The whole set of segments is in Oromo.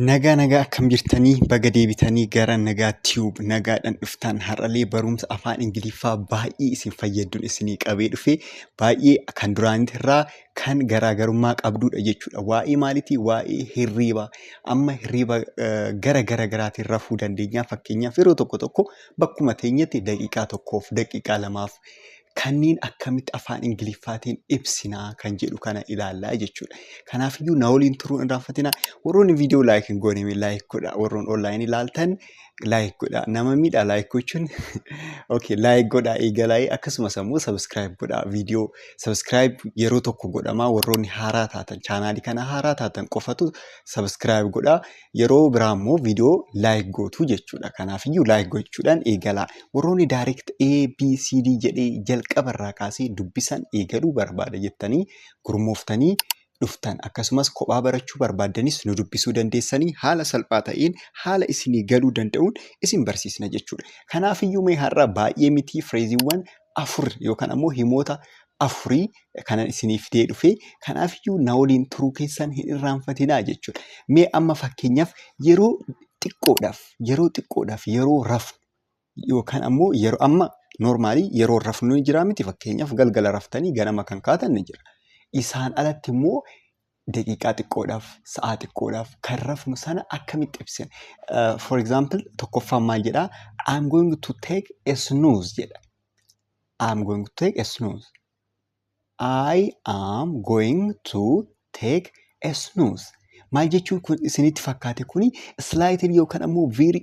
Nagaa nagaa akkam jirtanii baga deebitanii gara nagaa tube nagaadhaan dhuftaan har'alee barumsa afaan ingiliffaa baay'ee isin fayyadduun isinii qabee dhufe baay'ee kan duraanitirraa kan garaagarummaa qabduudha jechuudha waa'ee maalitii waa'ee hirriibaa amma hirriiba gara gara garaatiin rafuu dandeenyaa fakkeenyaaf yeroo tokko tokko bakkuma teenyatti daqiiqaa tokkoof daqiiqaa lamaaf Kanniin akkamitti afaan Ingiliffaatiin ibsinaa kan jedhu kana ilaallaa jechuudha. Kanaafiyyuu na waliin turuu hin irraanfatinaa. Warroonni viidiyoo laayik hin goone laayik godha. Warroon online ilaaltan laayik godha. Nama miidha laayik gochuun. Okay laayik godha eegalaayee akkasumas ammoo sabiskiraayib godha. Viidiyoo sabiskiraayib yeroo tokko godhamaa warroonni haaraa taatan chaanaalii kana haaraa taatan qofatu sabiskiraayib godha. Yeroo biraa immoo viidiyoo like gootu jechuudha. Kanaafiyyuu like gochuudhaan eegalaa. Warroonni direct A, B, C, D jedhee jalqaba irraa kaasee dubbisan eegaluu barbaada jettanii gurmooftanii dhuftan akkasumas kophaa barachuu barbaaddanis nu dubbisuu dandeessanii haala salphaa ta'een haala isinii galuu danda'uun isin barsiisna jechuudha. Kanaafiyyuu mee har'a baay'ee mitii fireeziiwwan afur yookaan ammoo himoota afurii kanan isinii fidee dhufe kanaafiyyuu na waliin turuu keessan hin irraanfatinaa jechuudha. Mee amma fakkeenyaaf yeroo xiqqoodhaaf yeroo xiqqoodhaaf yeroo rafnu yookaan ammoo yeroo amma noormaalii yeroo rafnu ni jira miti fakkeenyaaf galgala raftanii ganama kan kaatan ni jira. Isaan alatti immoo daqiiqaa xiqqoodhaaf, sa'aa xiqqoodhaaf kan rafnu sana akkamitti ibsina? Uh, for example, tokkoffaan maal jedha? I'm going to take a snooze jedha. I'm going to take a snooze. I am going to take a snooze. Maal jechuun kun isinitti fakkaate kuni slaayitiin yookaan ammoo viiri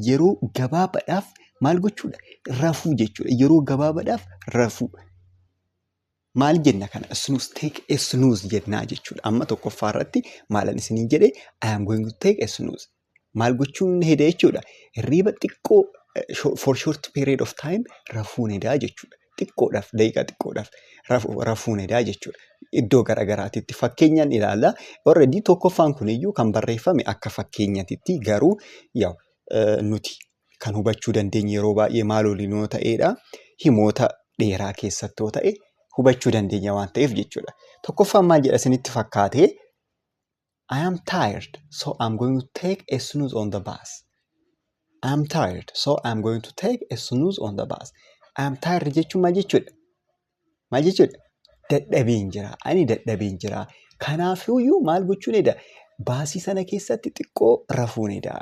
yeroo gabaabaadhaaf maal gochuudha? Rafuu jechuudha. Yeroo gabaabaadhaaf rafuu. Maal jenna kana snooze take a snooze jennaa jechuudha. Amma tokkoffaa irratti maalan isiniin jedhe I am going to take a snooze. Maal gochuun heda jechuudha. Hirriiba xiqqoo eh, sho- for short period of time rafuun hedaa jechuudha. Xiqqoodhaaf daqiiqaa xiqqoodhaaf rafu- rafuun hedaa jechuudha. Iddoo garaagaraatitti fakkeenyaan ilaalla. Already tokkoffaan kuniyyuu kan barreeffame akka fakkeenyatitti garuu yaw eh, nuti kan hubachuu dandeenyu yeroo baay'ee maal waliin yoo ta'eedha? Himoota dheeraa keessatti yoo ta'e hubachuu dandeenya waan ta'eef jechuudha. Tokkoffaan maal jedha isinitti fakkaate? I am tired, so I'm going to take a snooze on the bus. I am tired, so I'm going to take a snooze on the bus. I am tired jechuun maal jechuudha? Maal jechuudha? Dadhabeen jira. Ani dadhabeen jira. Kanaafiyyuu maal gochuun edaa? Baasii sana keessatti xiqqoo rafuun edaa.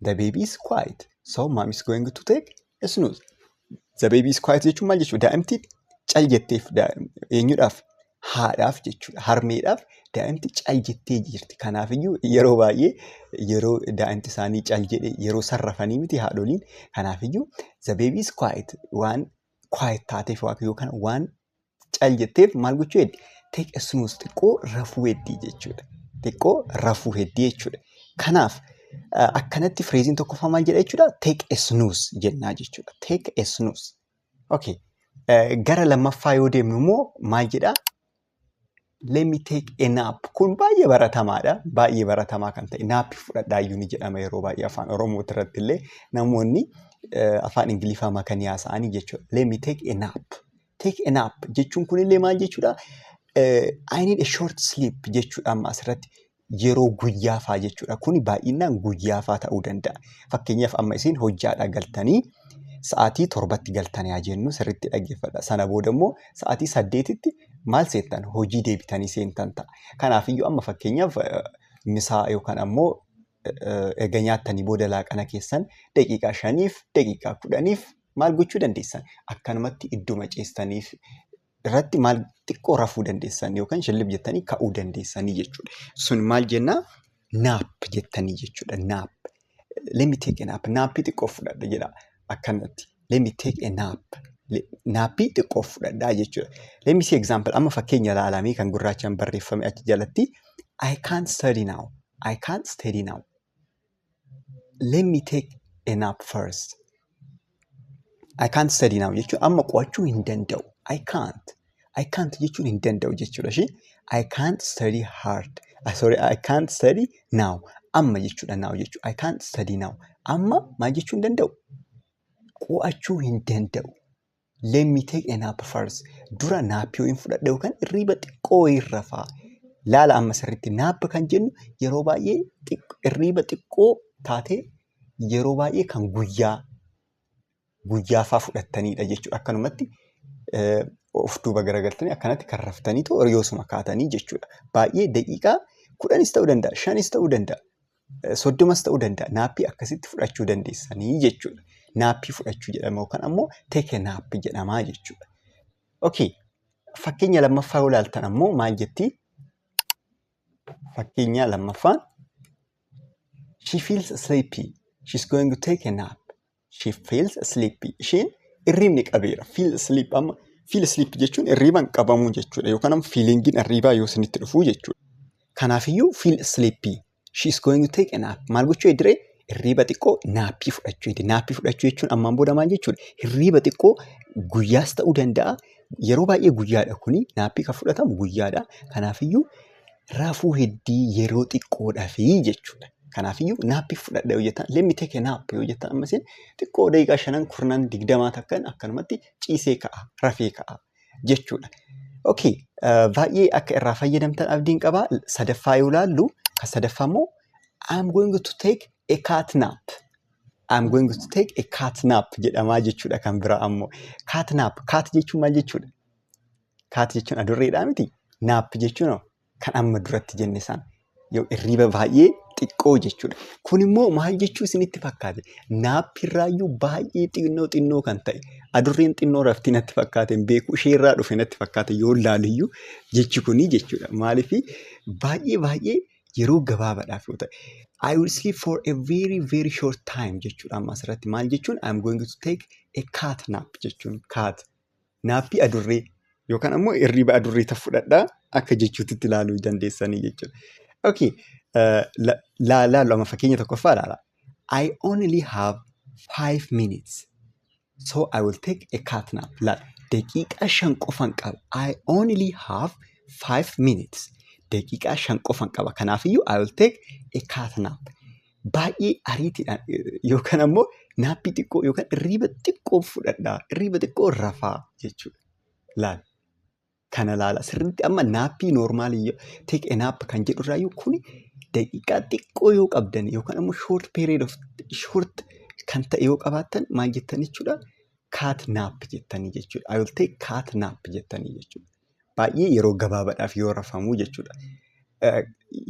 The baby is quiet. So mom is going to take a snooze. The baby is quiet jechuun maal jechuudha? Daa'imti cal jetteef eenyudhaaf? Haadhaaf jechuudha. Harmeedhaaf daa'imti cal jettee jirti. Kanaafiyyuu yeroo baay'ee yeroo daa'imti isaanii cal jedhe yeroo sarrafanii miti haadholiin. Kanaafiyyuu the baby is quiet waan quiet taateef yookaan waan cal jetteef maal gochuu heddi? Take a snooze xiqqoo rafuu heddii jechuudha. Xiqqoo rafuu heddii jechuudha. Kanaaf eh, akkanatti fireeziin tokkoffaa maal jedha jechuudha? Take a snooze jennaa jechuudha. Take a snooze. Okay. Eh, Gara lammaffaa yoo deemnu immoo maal jedha? let me take a nap kun baay'ee baratamaadha baay'ee baratamaa kan ta'e naappi fudhadhaayyuu ni jedhama yeroo baay'ee afaan oromoo irratti illee namoonni eh, afaan ingiliffaa makanii haasa'anii jechuudha let me take a nap take a nap jechuun kun illee maal jechuudha Eh, I need a short sleep jechuudha amma asirratti yeroo guyyaa faa jechuudha. Kuni baay'inaan guyyaa faa ta'uu danda'a. Fakkeenyaaf amma isin hojjaadhaa galtanii sa'aatii torbatti galtan yaa jennu sirriitti dhaggeeffadha. Sana booda immoo sa'aatii saddeetitti maal seentan hojii deebitanii seentan ta'a. Kanaafiyyuu amma fakkeenyaaf eh, misaa yookaan ammoo eh, erga nyaattanii booda laaqana keessan daqiiqaa shaniif daqiiqaa kudhaniif maal gochuu dandeessan akkanumatti idduma ciistaniif irratti maal xiqqoo rafuu dandeessan yookaan shillib jettanii ka'uu dandeessanii jechuudha. Sun maal jenna? Naap jettanii jechuudha. Naap. Let me take a nap. Naappii xiqqoo fudhadha jedha akkanatti. Let me take a nap. Le- Naappii xiqqoo fudhadha jechuudha. Let me see example. Amma fakkeenya ilaalamee kan gurraachaan barreeffame achi jalatti. I can't study now. I can't study now. let me take a nap first I can't study now jechuun amma qo'achuu hin danda'u I can't I can't jechuun hin danda'u jechuudha ishee I can't study hard ah, sorry I can't study now amma jechuudha now jechuudha I can't study now amma maal jechuu hin danda'u qo'achuu hin danda'u Let me take a nap first. Dura naappii wayiin fudhadha yookaan irriiba xiqqoo wayiin rafa. Laala amma sirriitti naap kan jennu yeroo baay'ee xiqq- irriiba xiqqoo taatee yeroo baay'ee kan guyyaa guyyaafaa fudhattanidha jechuudha. Akkanumatti eh, of duuba garagaltanii akkanatti kan raftaniitu horiyoosuma kaatanii jechuudha. Baay'ee daqiiqaa kudhanis ta'uu danda'a, shanis ta'uu danda'a. soddomas ta'uu danda'a. Naappii akkasitti fudhachuu dandeessanii jechuudha. Naappii fudhachuu jedhama yookaan ammoo teke naappi jedhama jechuudha. Okay. Fakkeenya lammaffaa yoo ilaaltan ammoo maal jetti? Fakkeenya lammaffaan she feels sleepy. She's going to take a nap. She feels sleepy. Isheen irriibni qabeera. Feel sleep amma feel sleep jechuun irriiban qabamuu jechuudha. Yookaan amma feelingiin irriibaa yoo isinitti dhufuu jechuudha. Kanaafiyyuu feel sleepy. She is going to take a nap. Maal gochuu ediree? Irriiba xiqqoo naappii fudhachuu ediree. Naappii fudhachuu jechuun ammaan booda maal jechuudha? Irriiba xiqqoo guyyaas ta'uu danda'a. Yeroo baay'ee guyyaadha kuni. Naappii kan fudhatamu guyyaadha. Kanaafiyyuu rafuu heddii yeroo xiqqoodhafi jechuudha. Kanaafiyyuu naappi fudhadha yoo jettan let me take a nap yoo jettan amma isin xiqqoo daqiiqaa shanan kurnan digdamaa takkan akkanumatti ciisee ka'a rafee ka'a jechuudha. Okay, eh, baay'ee akka irraa fayyadamtan abdiin qaba. Sadaffaa yoo laallu kan sadaffaa immoo I'm going to take a cat nap. I'm going to take a cat nap jedhamaa jechuudha kan biraa ammoo. Cat nap, cat jechuun maal jechuudha? Kaati jechuun adurreedhaa miti. Naappi jechuun kan amma duratti jenne sana. Yoo irriiba baay'ee xiqqoo jechuudha. Kun immoo maal jechuu isinitti fakkaate? Naappi irraayyuu baay'ee xinnoo xinnoo kan ta'e. Adurreen xinnoo raftii natti fakkaate hin beeku. Ishee irraa dhufe natti fakkaate yoo laaliyyuu jechi kunii jechuudha. Maaliif baay'ee baay'ee yeroo gabaabaadhaaf yoo ta'e. I will sleep for a very very short time jechuudha amma asirratti maal jechuun I am going to take a cat nap jechuun cat naaffi adurree yookaan ammoo hirriba adurree tan fudhadha akka jechuutitti ilaaluu dandeessanii jechuudha. Okay. Laallu amma fakkeenya tokkoffaa ilaala. I only have five minutes. So I will take a cat nap. Laal. Daqiiqaa shan qofan qaba. I only have five minutes. Daqiiqaa shan qofan qaba. Kanaafiyyuu I will take a cat nap. baay'ee ariitiidhaan yookaan ammoo naappii xiqqoo yookaan irriiba xiqqoo fudhadhaa irriiba xiqqoo rafaa jechuudha. Laal kana laala sirriitti amma naappii noormaalii take a nap kan jedhu irraa iyyuu kuni daqiiqaa xiqqoo yoo qabdan yookaan ammoo short period of short kan ta'e yoo qabaattan maal jettan jechuudha kaat naap jettanii jechuudha. I will take kaat naap jettanii jechuudha. baay'ee yeroo gabaabadhaaf yoo rafamu jechuudha.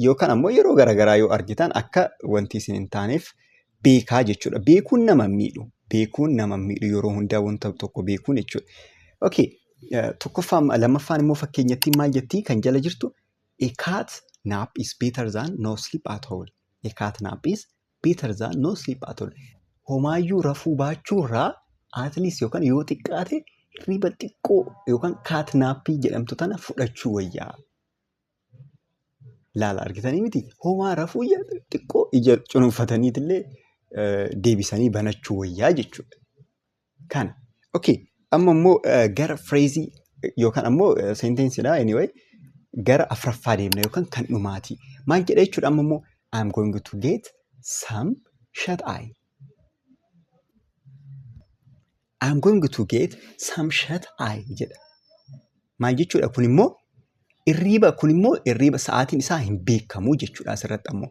Yookaan ammoo yeroo garaagaraa yoo argitan akka wanti isin hin taaneef beekaa jechuudha. Beekuun nama hin miidhu. Beekuun nama hin miidhu yeroo hundaa wanta tokko beekuun jechuudha. Okay. Tokkoffaan lammaffaan immoo fakkeenyattiin maal jettii kan jala jirtu a cat nap is better than no sleep at all. A cat nap is better than no sleep at all. Homaayyuu rafuu baachuurraa at least yookaan yoo xiqqaate hirriba xiqqoo yookaan kaatnaappii jedhamtu tana fudhachuu wayyaa. Laala argitanii miti homaa rafuu ija xiqqoo ija cunuunfataniitillee eh, deebisanii banachuu wayyaa jechuudha. Kana. Okay. Amma immoo eh, gara fireezii yookaan ammoo seentensiidha anyway gara afraffaa deemna yookaan kan dhumaati. Maal jedha jechuudha amma immoo I'm going to get some shut eye. I'm going to get some shut eye jedha. Maal jechuudha kun immoo irriiba kun immoo irriiba sa'aatiin isaa hin beekamu jechuudha asirratti ammoo.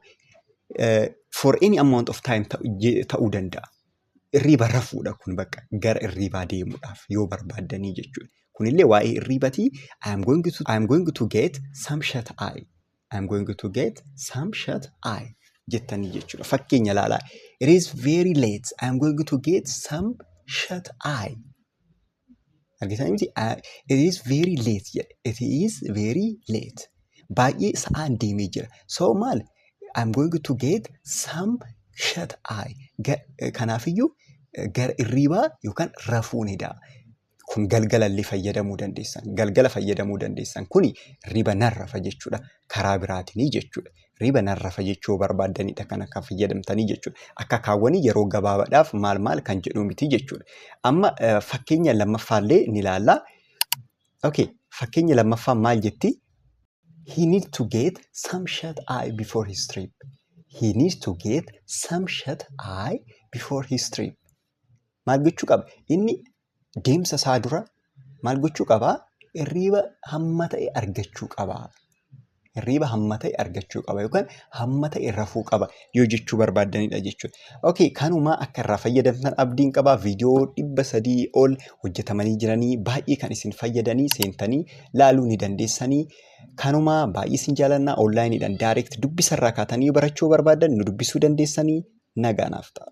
Eh, for any amount of time ta'u- je- ta'uu danda'a. irriiba rafuudha kun bakka gara irriibaa deemuudhaaf yoo barbaaddanii jechuudha. Kunillee waa'ee irriibatii I am going to, I am going to get some shut eye. I am going to get some shut eye jettanii jechuudha. Fakkeenya ilaalaa. It is very late. I am going to get some shut eye. Argitan miti it is very late jedhe. It is very late. Baay'ee sa'aan deemee jira. So maal I'm going to get some shut eye. Ga- Kanaafiyyuu eh, gara irriibaa yookaan rafuu ni da'a. Kun galgalallee fayyadamuu dandeessan. Galgala fayyadamuu dandeessan. Kuni riba narrafa jechuudha. Karaa biraatinii jechuudha. riba narra fajechuu barbaaddanidha kana kan fayyadamtanii jechuudha. Akka kaawwanii yeroo gabaabadhaaf maal maal kan jedhu miti jechuudha. Amma fakkeenya lammaffaallee ni ilaalla. Okay, fakkeenya lammaffaa maal jetti? He needs to get some shut eye before his trip. He needs to get some shut eye before his trip. Maal gochuu qaba? Inni deemsa isaa dura maal gochuu qaba? Hirriiba hamma ta'e argachuu qaba. Hirriiba hamma ta'e argachuu qaba yookaan hamma ta'e rafuu qaba yoo jechuu barbaaddanidha jechuudha. Okay, kanuma akka irraa fayyadamtan abdiin qaba. Viidiyoo dhibba sadii ol hojjetamanii jiranii baay'ee kan isin fayyadanii seentanii laaluu ni dandeessanii. Kanuma baay'ee isin jaalannaa onlaayiniidhaan daayireekt dubbisarraa kaatanii barachuu barbaaddan nu dubbisuu dandeessanii nagaa naaf ta'a.